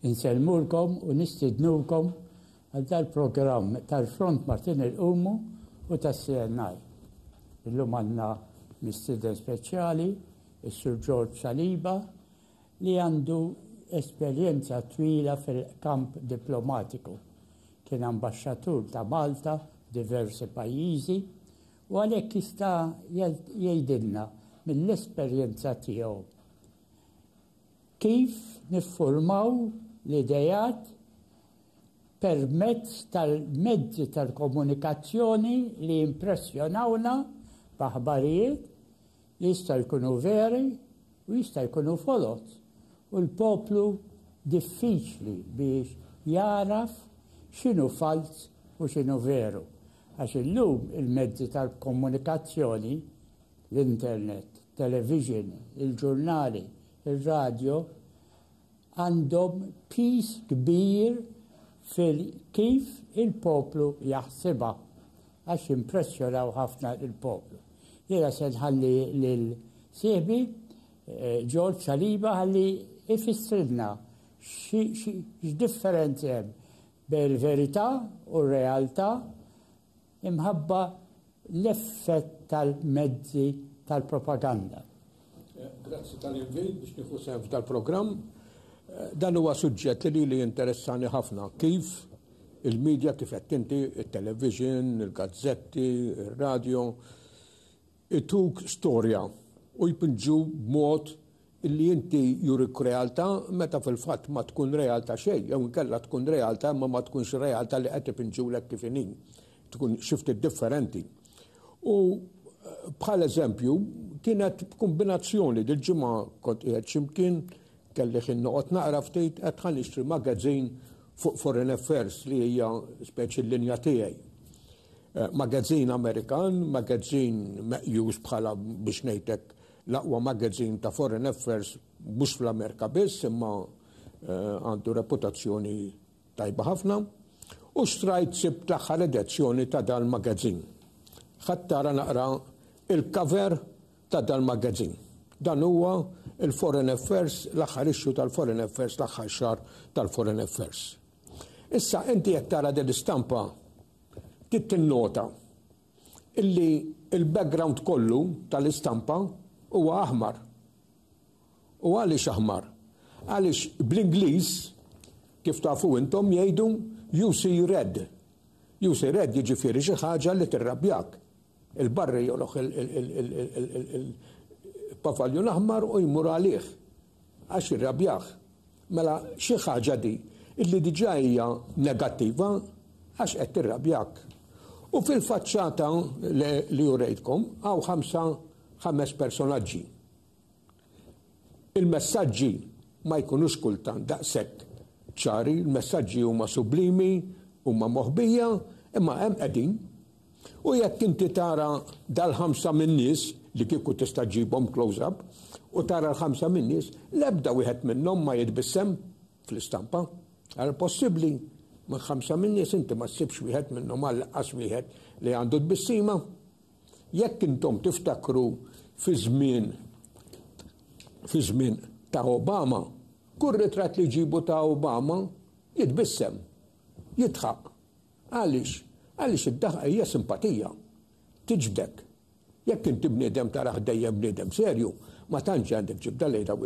Insellmulkom u nistidnukom Għal dal-programm tal-Front Martin il-Qumu u tas-CNI. Illum għandna mistieden speċjali, is-Sur George Saliba, li għandu esperjenza twila fil-kamp diplomatiku. Kien ambaxxatur ta' Malta diversi pajjiżi u għalhekk jista' jgħidilna mill-esperjenza tiegħu kif niffurmaw l-idejat permezz tal-mezzi tal-komunikazzjoni li jimpressjonawna b'aħbarijiet li jistgħu jkunu veri u jista' jkunu foloz u l-poplu diffiċli biex jagħraf x'inhu falz u x'inhu veru għax illum il-mezzi tal-komunikazzjoni, l-internet, television, il-ġurnali, ir-radjo, għandhom piż kbir fil-kif il-poplu jaħsibha għax jimpressjonaw ħafna lill-poplu. Jiena se nħalli lil sieħbi George Saliba ħalli ifissrilna x'differenzi hemm bejn il-verità u r-realtà imħabba l-effett tal-mezzi tal-propaganda. Eh, grazzi tal-invit biex nifu sehem f'dal-programm. Eh, dan huwa suġġett li li interessani ħafna kif il-medja kif qed tinti, il-television, il-gazzetti, il-radio, Ituk storja u jpinġu b'mod illi inti jurik realtà meta fil-fatt ma tkun realtà xejn jew inkella tkun realtà imma ma tkunx realtà li qed ipinġulek kif inhi. Tkun xi ftit differenti. U bħal eżempju kienet b'kumbinazzjoni dil-ġimgħa kont qiegħed xi mkien, kelli ħin noqgħod naqra ftit, għedt ħa nixtri magazine fuq foreign affairs li hija speċi l-linja tiegħi. Magazzin Amerikan, magazzin meqjus bħala biex ngħidlek l-aqwa magazzin ta' foreign affairs mhux fl-Amerika biss imma għandu reputazzjoni tajba ħafna u xtrajt sib l-aħħar edizzjoni ta' dal-magazzin. Ħattara naqra il-cover ta' dal-magazzin. Dan huwa il-Foreign Affairs, l-aħħar issue tal-Foreign Affairs, l-aħħar xar tal-Foreign Affairs. Issa inti jekk tara din l-istampa Trid tinnota illi l-background kollu tal-istampa huwa aħmar. U għaliex aħmar? Għaliex bl-Ingliż, kif tafu intom, jgħidu you see red. You see red jiġifieri xi ħaġa li tirrabjak. Il-barri joloħ il-pavaljun aħmar u jmur għalih. Għax irrabjah. Mela xi ħaġa di illi diġà hija negattiva għax qed tirrabjak. U fil-faċċata li urejtkom hawn ħamsa ħames personaġġi. Il-messaġġi ma jkunux kultant daqshekk ċari, il-messaġġi huma sublimi, huma moħbija, imma hemm qegħdin U jekk inti tara dal-ħamsa min-nies, li kieku tista' ġġibhom close up, u tara l-ħamsa min-nies, l-ebda wieħed minnhom ma jitbissem fl-istampa. Ara possibbli minn ħamsa min-nies inti ma ssibx wieħed minnhom għal qas wieħed li għandu tbissima. Jekk intom tiftakru fi żmien fi żmien ta' Obama, kull ritratt li ġibu ta' Obama jitbissem, jitħaq. Għaliex? Għaliex id-daħqa hija simpatija. Tiġbdek. Jekk inti bniedem tarah dejjem bniedem serju, ma tantx għandek ġibda lejn daw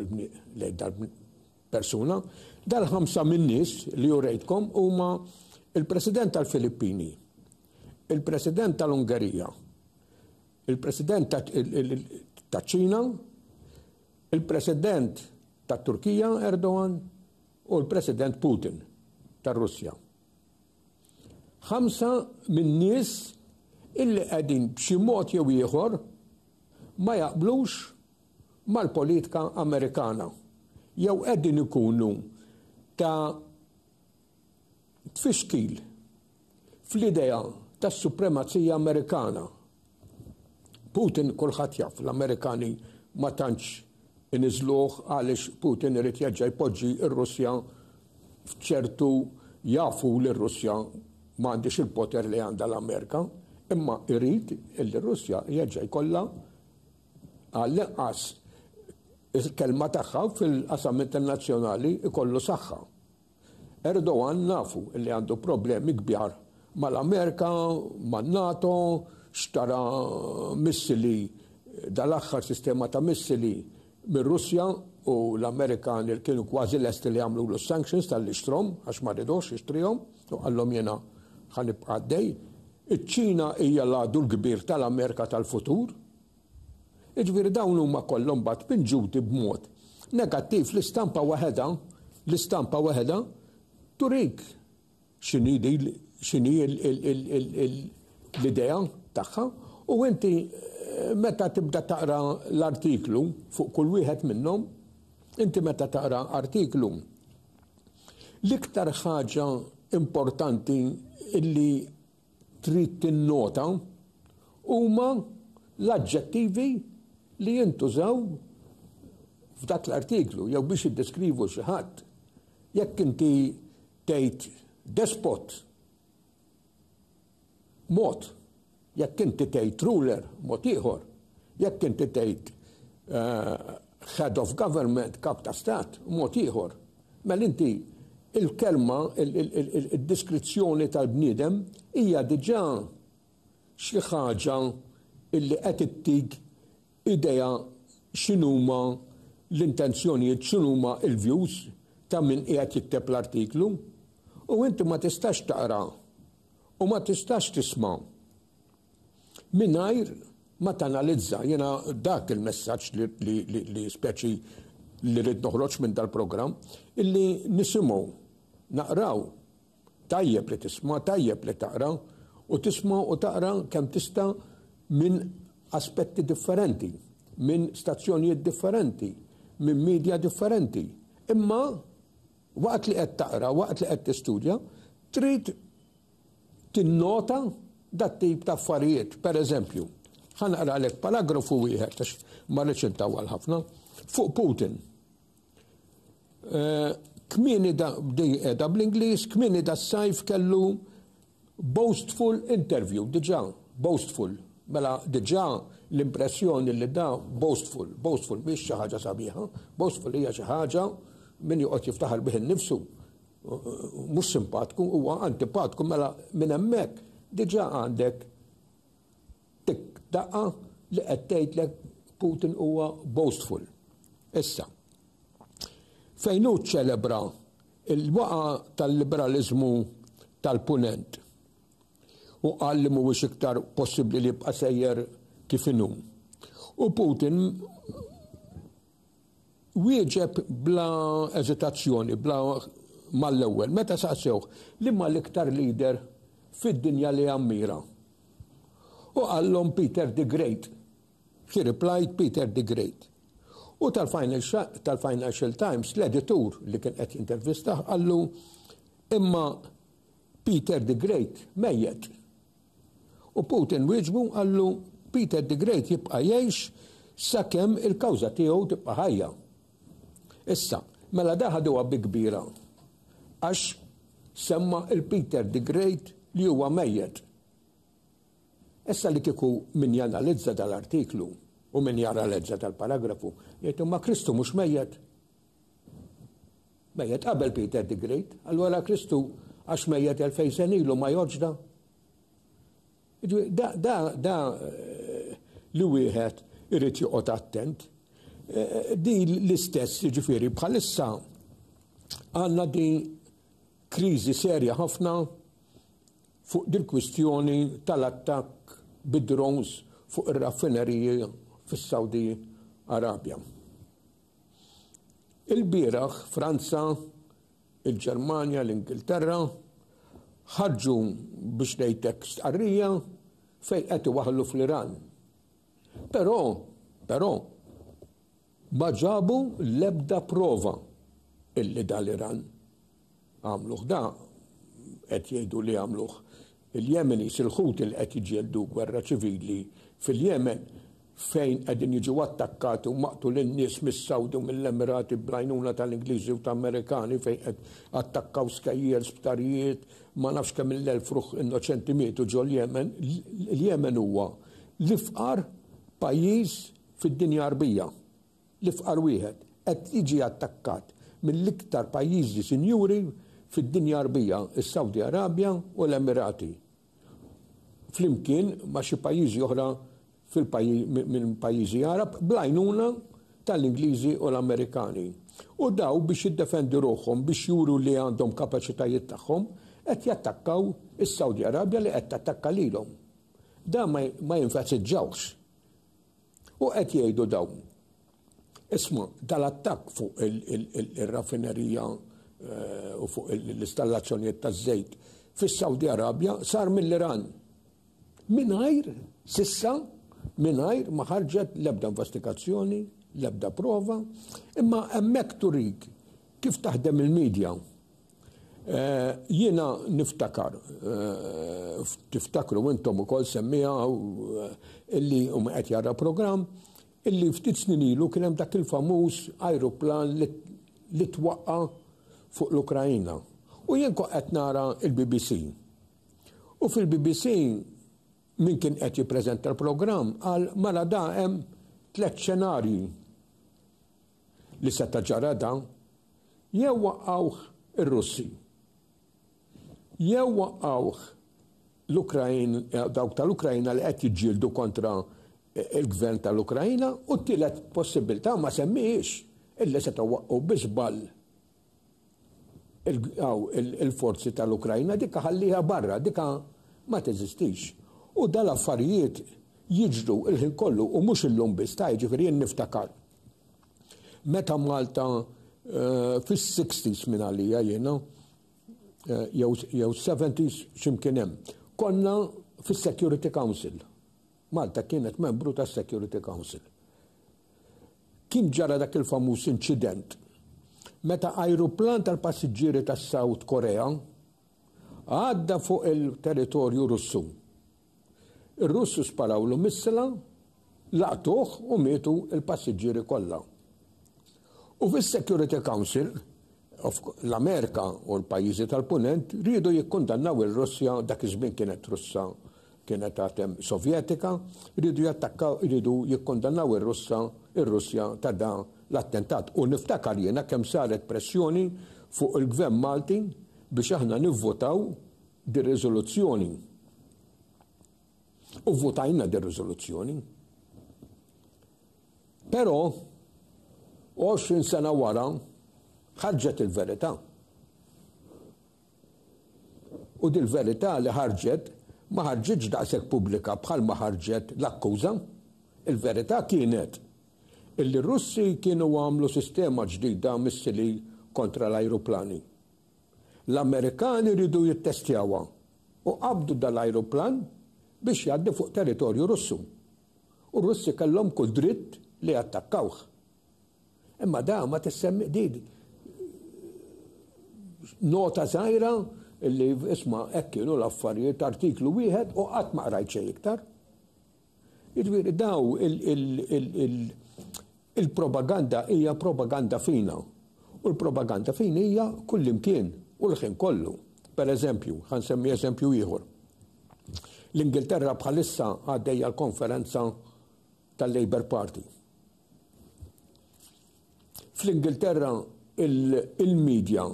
lejn dal-persuna. Dal-ħamsa min-nies li urejtkom huma il-President tal-Filippini, il-President tal-Ungerija, il-President taċ-Ċina, il-President tat-Turkija Erdogan u l-President Putin tar-Russja. Ħamsa min-nies illi qegħdin b'xi mod jew ieħor ma jaqblux mal-politika Amerikana jew qegħdin ikunu ta' tfixkil fl-idea tas-supremazija Amerikana Putin kulħadd jaf l-Amerikani ma tantx iniżżluh għaliex Putin irid jerġa' jpoġġi r-Russja f'ċertu jafu li r-Russja ma għandhiex il-poter li għandha l-Amerika, imma jrid li r-Russja jerġa' jkollha għall-inqas il-kelma tagħha fil-qasam internazzjonali jkollu saħħa. Erdogan nafu li għandu problemi kbjar mal-Amerika, man-NATO, xtara missili dal-aħħar sistema ta' missili mir-Russja u l-Amerikani li kienu kważi lesti li jagħmlulu s-sanctions tal-li xtrom għax ma ridux jixtrihom u qallhom jiena ħanibqa' għaddej. Iċ-Ċina hija l-għadu l-kbir tal-Amerika tal-futur Jiġifieri dawn huma kollha mbagħad pinġuti b'mod negattiv l-istampa waħedha, l-istampa waħedha turik x'inhi din x'inhi l-idea tagħha u inti meta tibda taqra l-artiklu fuq kull wieħed minnhom, inti meta taqra artiklu, l-iktar ħaġa importanti illi trid tinnota huma l-aġġettivi li jintużaw f'dak l-artiklu jew biex jiddeskrivu xi ħadd. Jekk inti tgħid despot mod, jekk inti tgħid ruler mod ieħor, jekk inti tgħid eh, head of government, kap ta' stat, mod ieħor. Mela inti, il-kelma, id-deskrizzjoni tal-bniedem hija diġà xi ħaġa li qed ittik idea x'inhuma l-intenzjonijiet, x'inhuma l-views ta' min qiegħed jikteb l-artiklu. U inti ma tistax taqra u ma tistax tisma' Mingħajr ma tanalizza jiena dak il-messaġġ li speċi li rrid noħroġ minn dal-programm illi nisimgħu naqraw tajjeb li tisma' tajjeb li taqra u tisma' u taqra kemm tista' minn aspetti differenti, minn stazzjonijiet differenti, minn media differenti. Imma waqt li qed taqra, waqt li qed tistudja, trid tinnota dat-tip ta' affarijiet. Pereżempju, ħa naqralek paragrafu wieħed għax ma rridx intawwal ħafna fuq Putin. Eh, kmieni da qiegħda bl-Ingliż, kmieni da sajf kellu boastful interview, diġà boastful. Mela diġà l-impressjoni li da boastful, boastful mhix xi ħaġa sabiħa, boastful hija xi ħaġa min joqgħod jiftaħar bih innifsu. mhux simpatku huwa antipatku mela minn hemmhekk diġà għandek tik daqqa li qed tgħidlek Putin huwa boastful. Issa, fejn hu ċelebra il-waqa tal-liberalizmu tal-punent u qal li mhuwiex iktar possibbli li jibqa' sejjer kif inhu. U Putin Wieġeb bla eżitazzjoni, bla mal-ewwel, meta saqsewh liema l-iktar leader fid-dinja li jammira. U qallhom Peter the Great. He replied Peter the Great. U tal-Financial Times, l-editur li kien qed jintervistah qallu, Imma Peter the Great mejjet. U Putin wieġbu u qallu, Peter the Great jibqa' jgħix sakemm il-kawża tiegħu tibqa' ħajja. Issa, mela da ħaduha bi kbira għax semma' 'l Peter the Great li huwa mejjet. Issa li kieku min janalizza dal-artiklu u min jara l-għeġġa tal-paragrafu, jgħid imma Kristu mhux mejjet? Mejjet qabel Peter the Great, allura Kristu għax mejjet elfejn sen ilu ma joġda. Da, da, da eh, li wieħed irid joqgħod attent. Eh, di l-istess ġifieri bħalissa għandna di kriżi serja ħafna fuq din kwistjoni tal-attakk bid-drones fuq ir-raffineriji fis-Saudi Arabja. Ilbieraħ Franza, il-Ġermanja, l-Ingilterra ħarġu biex ngħid hekk stqarrija fejn qed iwaħħlu fl-Iran. Però, però, ma ġabu l-ebda prova illi dal-Iran Għamluh da, qed jgħidu li għamluh il-Yemenis, il-Houthi li qed jiġġieldu gwerra ċivili fil-Yemen fejn qegħdin jiġu attakkati u maqtulin nies mis-Sawdi u mill-Emirati bl-għajnuna tal-Ingliżi u ta' Amerikani fejn qed attakkaw skejjel, sptarijiet, ma nafx kemm il-elf ruħ innoċenti mietu ġol-Jemen. Il-Jemen huwa l-ifqar pajjiż fid-dinja Arbija. L-ifqar wieħed qed jiġi attakkat mill-iktar pajjiżi sinjuri fid-dinja Għarbija, is-Sawdi Arabja u l-Emirati, flimkien ma' xi pajjiżi oħra minn pajjiżi Għarab, bl-għajnuna tal-Ingliżi u l-Amerikani. U dawn biex jiddefendu ruħhom, biex juru li għandhom kapaċitajiet tagħhom, qed jattakkaw is-Sawdi Arabja li qed tattakka lilhom. Dan ma jenfasizzawhx U qed jgħidu dawn, Isma', dal-attakk fuq ir-raffinerija u fuq l-istallazzjonijiet taż-żejt fis-Sawdi Arabja sar mill-Iran mingħajr, s'issa, mingħajr ma ħarġet l-ebda investigazzjoni, l-ebda prova, imma hemmhekk turik kif taħdem il-media. Jiena niftakar, tiftakru intom ukoll semmiha illi huma qed jara programm, illi ftit snin ilu kien hemm dak il-famuż ajruplan li twaqqa' fuq l-Ukraina. U jien kont qed nara l-BBC. U fil-BBC min kien qed jippreżenta l-programm qal mela da hemm tliet xenarji. li seta' ġara dan, jew waqqgħuh ir-Russi, jew waqqgħuh l-Ukrain, dawk tal-Ukraina li qed jiġġieldu kontra il-gvern tal-Ukraina, u t-tielet possibbiltà ma semmihiex, illi setgħu waqqgħu bi żball il-forzi tal-Ukrajna dikka ħalliha barra, dikka ma teżistix. U dal affarijiet jiġru il-ħin kollu u mhux illum biss ta' jiġifieri jien niftakar. Meta Malta eh, fis-60s minn għalija jiena eh, jew 70s x'imkien hemm. Konna fis-Security Council. Malta kienet membru tas-Security Council. Kien ġara dak il-famuż inċident meta ajruplan tal-passiġġieri tas-South Korea għadda fuq il-territorju Russu. Ir-Russu sparawlu missila, laqtuh u mietu l-passiġġieri kollha. U fis-Security Council L-Amerika u l-pajjiżi tal-Punent riedu jikkundannaw ir-Russja, dak iż-żmien kienet Russa, kienet għadhem Sovjetika, riedu jattakkaw, riedu jikkundannaw ir-Russa, ir-Russja ta' da l-attentat. U niftakar jiena kemm saret pressjoni fuq il-Gvern Malti biex aħna nivvotaw dir-riżoluzzjoni. U vvotajna dir-riżoluzzjoni. Però, għoxrin sena wara, ħarġet il-verità. U dil-verità li ħarġet ma ħarġitx daqshekk pubblika bħal ma ħarġet l-akkuża. Il-verità kienet illi r-Russi kienu għamlu sistema ġdida missili kontra l-ajruplani. L-Amerikani ridu jittestjawha u qabdu dal-ajruplan biex jgħaddi fuq territorju Russu. u r-Russi kellhom kull dritt li jattakkawh. Imma da ma tissemmi di nota żgħira li isma' hekk kienu l-affarijiet artiklu wieħed u qatt ma qrajt xejn iktar. Jiġifieri daw il- Il-propaganda hija propaganda fina, u l-propaganda fina hija kullimkien u l-ħin kollu. Per eżempju, ħa nsemmi eżempju ieħor. L-Ingilterra bħalissa għaddejja l-konferenza tal-Labour Party. Fl-Ingilterra il-medja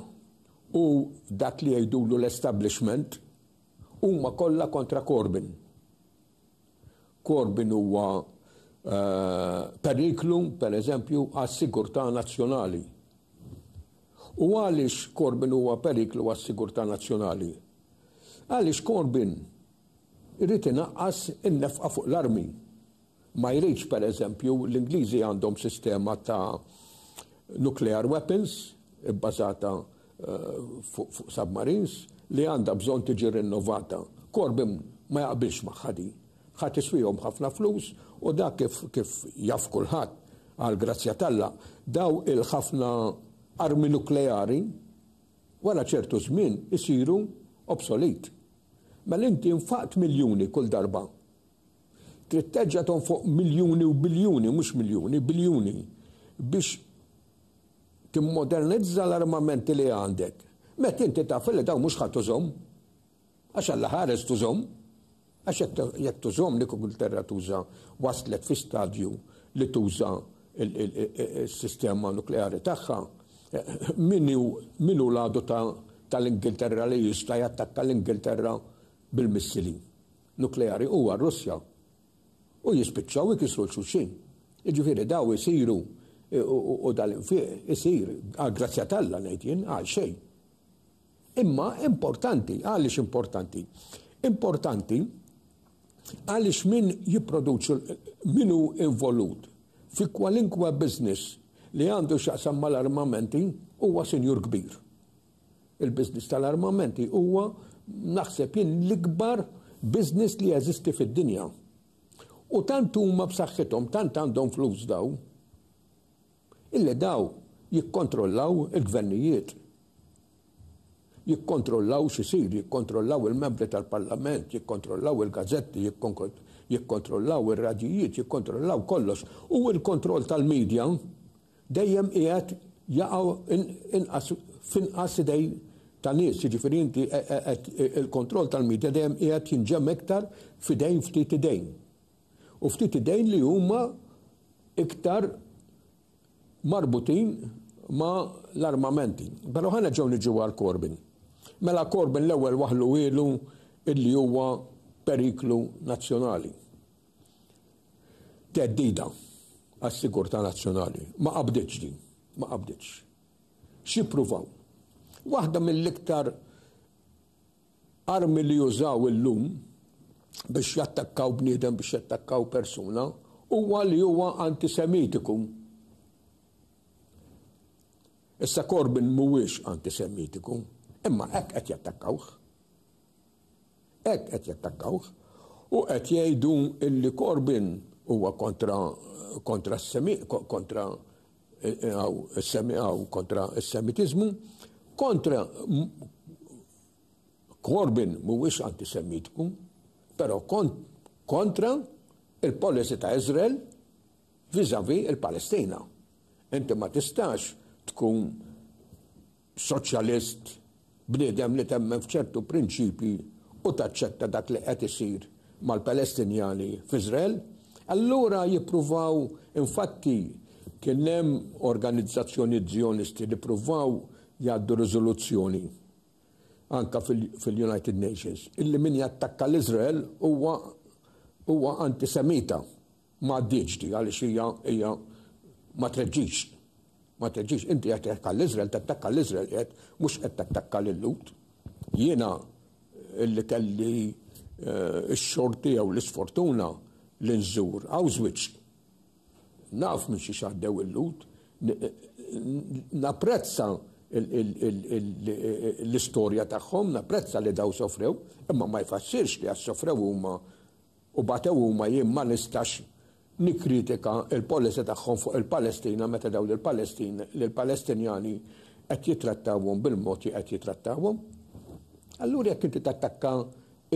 u dak li jgħidulu l-establishment huma kollha kontra Corbyn. Corbyn huwa periklu, per eżempju, għas-sigurtà nazzjonali. U għaliex Corbyn huwa periklu għas-sigurtà nazzjonali? Għaliex Corbyn irid inaqqas in-nefqa fuq l-armi. Ma jridx, per eżempju, l-Ingliżi għandhom sistema ta' nuclear weapons ibbażata fuq submarines li għandha bżonn tiġi rinnovata. Corbyn ma jaqbilx magħha din. Ħa tiswihom ħafna flus u dak kif kif jaf kulħadd għal grazzja talla daw il-ħafna armi nukleari wara ċertu żmien isiru obsolit. Mela inti nfaqt miljuni kull darba. Trid terġa' tonfoq miljuni u biljuni, mhux miljuni, biljuni biex Timmodernizza l-armamenti li għandek, meta inti taf li dawn mhux ħa tużhom. Għax alla ħares tużhom. Għax jekk tużhom dik Ingilterra tuża waslet fi stadju li tuża s-sistema nukleari tagħha. Min hu l-għadu tal-Ingilterra li jista' jattakka l-Ingilterra bil-missili nukleari? Huwa r-Russja. u jispiċċaw ikissru 'l xulxin. Jiġifieri dawn isiru u dal-infiq isir għall-grazzja t'Alla ngħid jien, għal xejn. Imma importanti, għaliex importanti? Importanti għaliex min jipproduċu min hu involut fi kwalinkwe business li għandu x'jaqsam mal-armamenti huwa sinjur kbir. Il-business tal-armamenti huwa naħseb jien l-ikbar business li jeżisti fid-dinja. U tant huma b'saħħithom, tant għandhom flus daw, illi daw jikkontrollaw il-gvernijiet. Jikkontrollaw xisir, jikkontrollaw il-membri tal-parlament, jikkontrollaw il-gazetti, jikkontrollaw il-radijiet, jikkontrollaw kollox. U il-kontroll tal-medja, dejjem qiegħed jaqgħu inqas f'inqas idejn ta' nies, jiġifieri inti qed il-kontroll tal-media dejjem qiegħed jinġemm iktar f'idejn ftit idejn. U ftit idejn li huma iktar marbutin ma l-armamenti. Pero ħana ġew niġu għal Corbyn. Mela Corbyn l-ewwel waħlu ilu illi huwa periklu nazzjonali. theddida għas-sigurtà nazzjonali. Ma qabditx din. Ma qabditx. X'ippruvaw? Waħda mill-iktar armi li jużaw illum biex jattakkaw bniedem, biex jattakkaw persuna, huwa li huwa antisemitiku. Issa Corbyn mhuwiex antisemitiku, imma hekk qed jattakkawh. Hekk qed jattakkawh u qed jgħidu illi Corbyn huwa kontra kontra s-semi kontra għaw is-semi għaw kontra s-semitiżmu, kontra Corbyn mhuwiex antisemitku, però kontra il-policy ta' Izrael vizavi il-Palestina. Inti ma tistax tkun Soċjalist, bniedem li temmen f'ċertu prinċipji u taċċetta dak li qed isir mal-Palestinjani f'Iżrael. Allura jippruvaw, infatti kien hemm organizzazzjonijiet Żjonisti li ppruvaw jgħaddu riżoluzzjoni anka fil-United Nations illi min jattakka l-Iżrael huwa huwa antisemita. Ma għaddietx di għaliex hija hija ma treġġix. Ma treġġix. Inti qed tgħid għall-Iżrael, tattakka l-Iżrael qiegħed, mhux qed tattakka lil Lhud. Jiena li kelli eh, x-xorti jew l-isfortuna li nżur Auschwitz. Naf minn xi xaddew il-Lhud. Napprezza l-istorja tagħhom, napprezza li daw sofrew, imma ma jfassirx li għas sofrew huma U batew huma jien ma nistax nikkritika l-policy tagħhom fuq il-Palestina meta dawn il-Palestin lill-Palestinjani qed jittrattawhom bil-mod li qed jittrattawhom. Allura jekk inti tattakka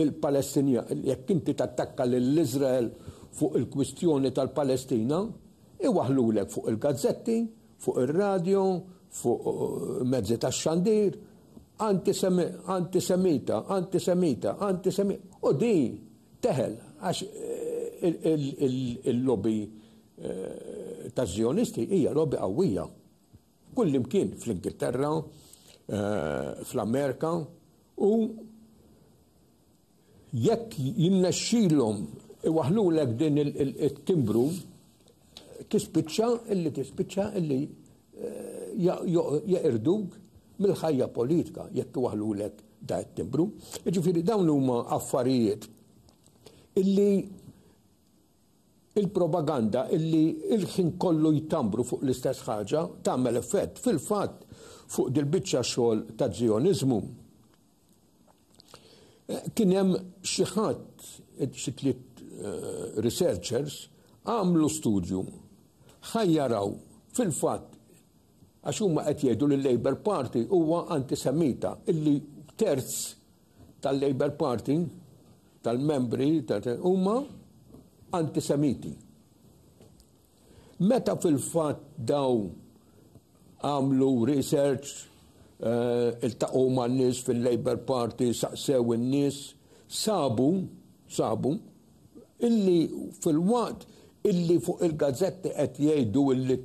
il-Palestinja, jekk inti tattakka lil Iżrael fuq il-kwistjoni tal-Palestina, iwaħħlulek fuq il-gazzetti fuq ir-radju, fuq mezzi tax-xandir, antisemita, antisemita, antisemita. U di teħel, għax il-lobby ta' zjonisti hija lobby qawwija. Kullimkien fl-Ingilterra, fl-Amerika, u Jekk jinnexxilhom iwaħħlulek din it-timbru, tispiċċa illi tispiċċa illi jeqirduk mill-ħajja politika jekk iwaħħlulek da it-timbru. Jiġifieri dawn huma affarijiet illi il-propaganda illi il-ħin kollu jtambru fuq l-istess ħaġa tagħmel effett fil-fatt fuq dil-biċċa xogħol ta' zjonizmu Kien hemm xi ħadd, xi tliet eh, researchers, għamlu studju ħajjaraw fil-fatt għax huma qed jgħidu li l-Labor Party huwa antisemita illi terz tal-Labor Party tal-membri huma antisemiti. Meta fil-fatt dawn għamlu research, iltaqgħu ma' nies fil-Labour Party, saqsew in-nies, sabu, sabu, illi filwaqt illi fuq il-gazzetti qed jgħidu illi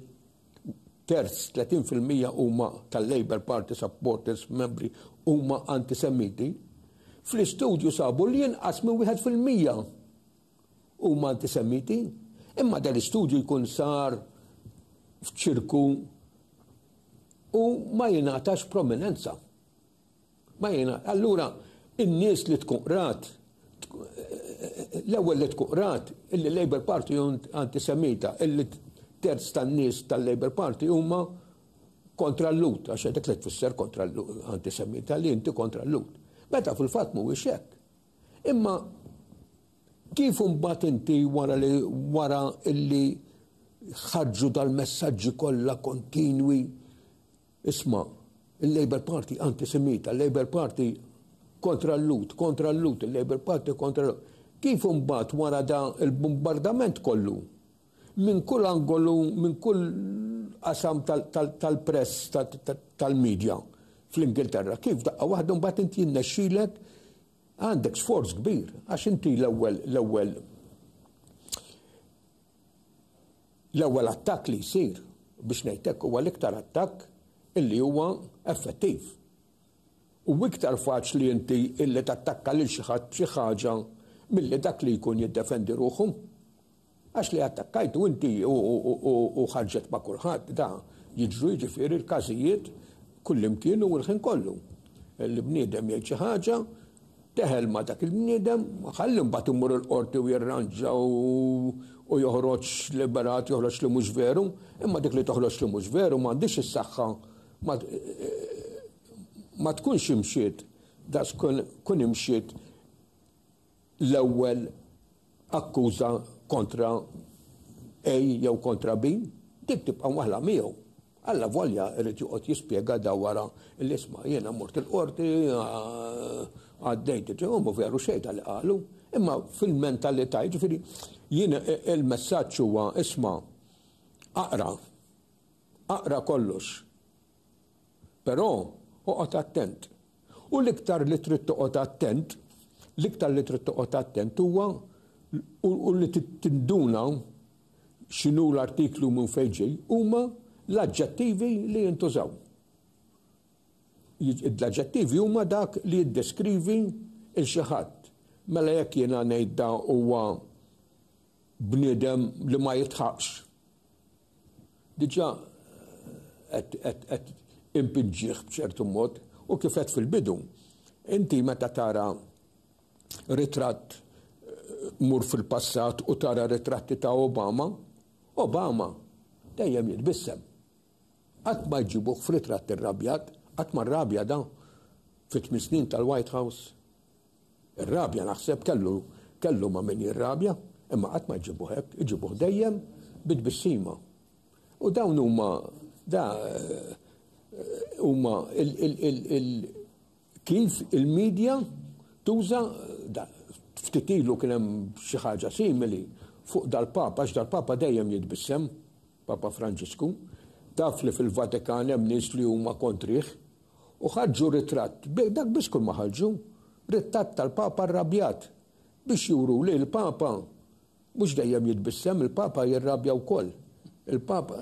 terz, 30 fil-mija huma tal-Labour Party supporters, membri, huma antisemiti, fl-istudju sabu li inqas minn wieħed fil-mija huma antisemiti, imma dan l-istudju jkun sar f'ċirku u ma jingħatax prominenza. Ma jina, allura, in-nies li tkun qrat, l-ewwel li tkun qrat, illi Labour Party antisemita, illi terz tan-nies tal-Labour Party huma kontra l-lut, għax dak li tfisser kontra l-lut, antisemita li inti kontra l-lut. Meta fil-fatt mhuwiex hekk. Imma kif imbagħad inti wara li wara illi ħarġu dal-messaġġi kollha kontinwi isma' il-Labour Party antisemita, il-Labour Party kontra l-lut, kontra l-lut, il-Labour Party kontra l-lut. Kif imbagħad wara da il-bombardament kollu Minn kull angolu, minn kull qasam tal-press, tal-media fl-Ingilterra, kif f'daqqa waħda mbagħad inti jirnexxilek, għandek sforz kbir, għax inti l-ewwel l-ewwel l-ewwel attakk li jsir biex ngħid hekk huwa l-iktar attakk illi huwa effettiv. U iktar faċli inti illi tattakka lil xi ħadd xi ħaġa milli dak li jkun jiddefendi ruħu. Għax li attakkajtu inti u ħarġet ma' kulħadd da jiġru jiġifieri l-każijiet kullimkien u l-ħin kollu. Li bniedem jgħid xi ħaġa, teħel ma' dak il-bniedem, ħalli mbagħad imur il-qorti u jirranġa u joħroġ liberat, joħroġ li mhux veru, imma dik li toħroġ li mhux veru m'għandix is-saħħa ma tkunx imxiet, da kun imxiet l-ewwel akkuża kontra A jew kontra B, dik tibqa' waħla miegħu. Alla volja irid joqgħod jispjega da wara li isma' jiena mort il-qorti għaddejt u mu veru xejda li qalu. Imma fil-mentalità jiġifieri jien il-messaġġ huwa isma' aqra aqra kollox Però oqgħod attent. U l-iktar li trid toqgħod attent, l-iktar li trid toqgħod attent huwa u li tinduna x'inhu l-artiklu minn fejn ġej huma l-aġġettivi li jintużaw. L-aġġettivi huma dak li jiddeskrivi il xi ħadd. Mela jekk jiena ngħid da huwa bniedem li ma jitħaqx, Diġà qed impiġġih b'ċertu mod u kif qed fil-bidu. Inti meta tara ritratt eh, mur fil-passat u tara ritratti ta' Obama, Obama dejjem jitbissem. Qatt ma jġibuh f'ritratt irrabjat, qatt ma rrabja da fit snin tal-White House. Ir-rabja naħseb kellu kellu ma' min jirrabja, imma qatt ma jġibuh hekk, iġibuh dejjem bi tbissima. U dawn huma da huma kif il-medja tuża ftit ilu kien hemm xi ħaġa simili fuq dal-Papa, għax dal-Papa dejjem jitbissem, Papa Franġisku, taf li fil-Vatikan hemm nies li huma kontrih, U ħarġu ritratt, dak biss kull ma ħarġu, rittatt tal-Papa rrabjat, biex juru li l-Papa mhux dejjem jitbissem, il-Papa jirrabja wkoll. Il-Papa,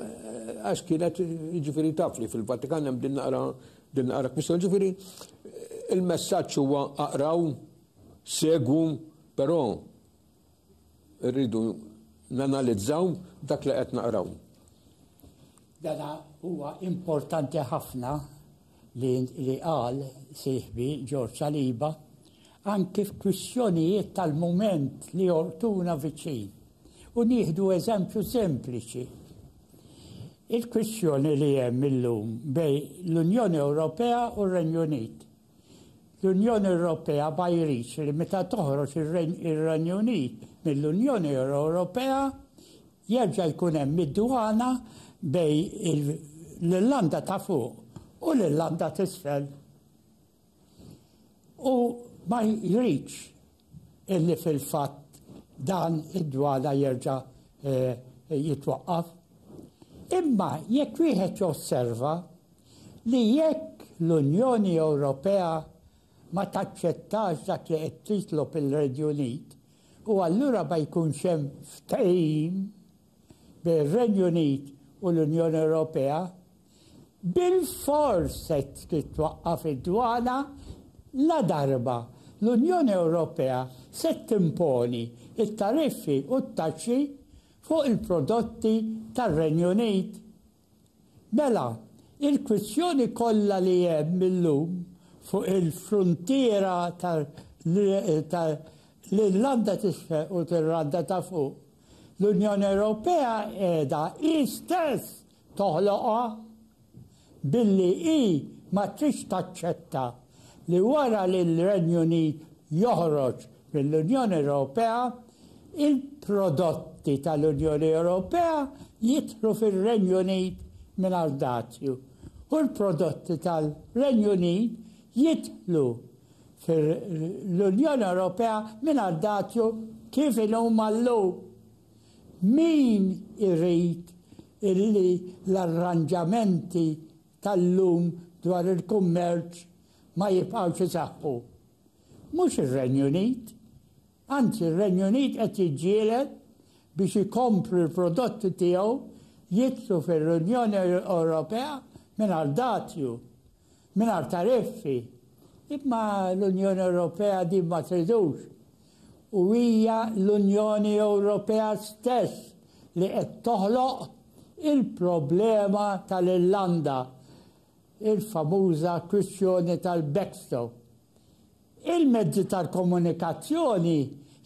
għax kienet, ġifieri taf li fil-Vatikan hemm din naqra din naqra kwistjoni, ġifieri il-messaġġ huwa aqraw, segwu, però Irridu nanalizzaw dak li qed naqraw. Dana huwa importanti ħafna li li qal sieħbi George Saliba anki f'kwistjonijiet tal-mument li jortuna viċin. U nieħdu eżempju sempliċi. Il-kwistjoni li hemm illum bej l-Unjoni Ewropea u r-Renju Unit. L-Unjoni Ewropea ma jridx li meta toħroġ ir-Renju Unit mill-Unjoni Ewropea jerġa' jkun hemm id-dwana bejn l-Irlanda ta' Fuq u l-Irlanda t'Isfel u ma jridx illi fil-fatt dan id-dwala jerġa' eh, jitwaqqaf. Imma jekk wieħed josserva li jekk l-Unjoni Ewropea ma taċċettax dak li qed titlob il-Renju Unit u allura ma jkunx hemm ftehim bejn ir-Renju Unit u l-Unjoni Ewropea bilfors se titwaqqaf id-dwana ladarba l-Unjoni Ewropea se timponi t-tariffi u t-taxxi fuq il-prodotti tar-Renju Unit. Mela, il-kwistjoni kollha li hemm illum fuq il-fruntiera tal-Irlanda t'Isfel u tal-Irlanda ta' Fuq, l-Unjoni Ewropea qiegħda hi stess toħloqha billi hi ma tridx taċċetta li wara li l-Renju Unit joħroġ mill-Unjoni Ewropea, Il-prodotti tal-Unjoni Ewropea jidħlu fir-Renju Unit mingħajr dazju u l-prodotti tal-Renju Unit jidħlu fil-Unjoni Ewropea mingħajr dazju kif inhuma llum. Min irid illi l-arranġamenti tal-lum dwar il-kummerċ ma jibqgħux isaħħu? Mhux ir-Renju Unit. Anzi, r-Renju Unit qed jiġġieled biex ikompli l-prodotti tiegħu jidħlu fir-Unjoni Ewropea mingħajr dazju, mingħajr tariffi. Imma l-Unjoni Ewropea din ma tridux. U hija l-Unjoni Ewropea stess li qed toħloq il-problema tal-Irlanda, il-famuża kwistjoni tal-backstop. Il-mezzi tal-komunikazzjoni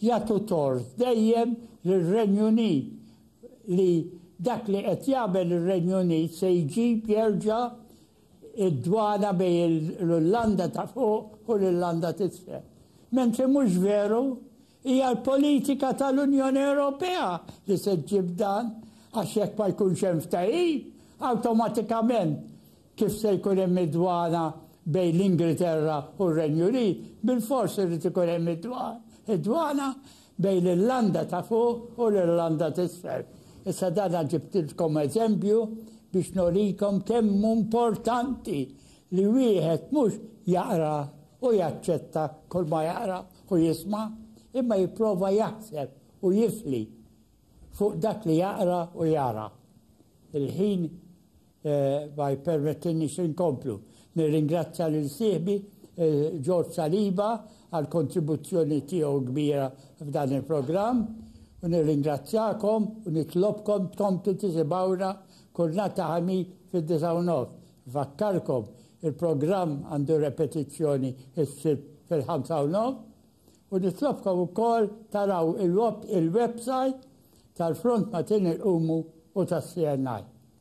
jagħtu tort dejjem lir-Renju Unit li dak li qed jagħmel ir-Renju Unit se jġib jerġa' d-dwana bejn l-Irlanda ta' Fuq u l-Irlanda t'Isfel. Mentri mhux veru, hija l-politika tal-Unjoni Ewropea li se ġġib dan għax jekk ma jkunx hemm ftehim, awtomatikament Kif se jkun hemm id-dwana bejn l-Ingilterra u r-Renju Unit, bilfors irid ikun hemm id-dwana bejn l-Irlanda ta' Fuq u l-Irlanda t'Isfel. Issa dan ġibtilkom eżempju biex norikom kemm hu importanti li wieħed mhux jaqra u jaċċetta kull ma jaqra u jisma', imma jipprova jaħseb u jifli fuq dak li jaqra u jara. Il-ħin Ma jippermettinniex li nkomplu. Nirringrazzja lil sieħbi George Saliba għall-kontribuzzjoni tiegħu kbira f'dan il-programm u nirringrazzjakom u nitlobkom tkomplu tisimgħuna kull nhar ta' Ħamis fid-disgħa u nofs. Nfakkarkom, il-programm għandu repetizzjoni s-Sibt fil-ħamsa u nofs u nitlobkom ukoll taraw il-website tal-Front Matin Irqumu u tas-CNI.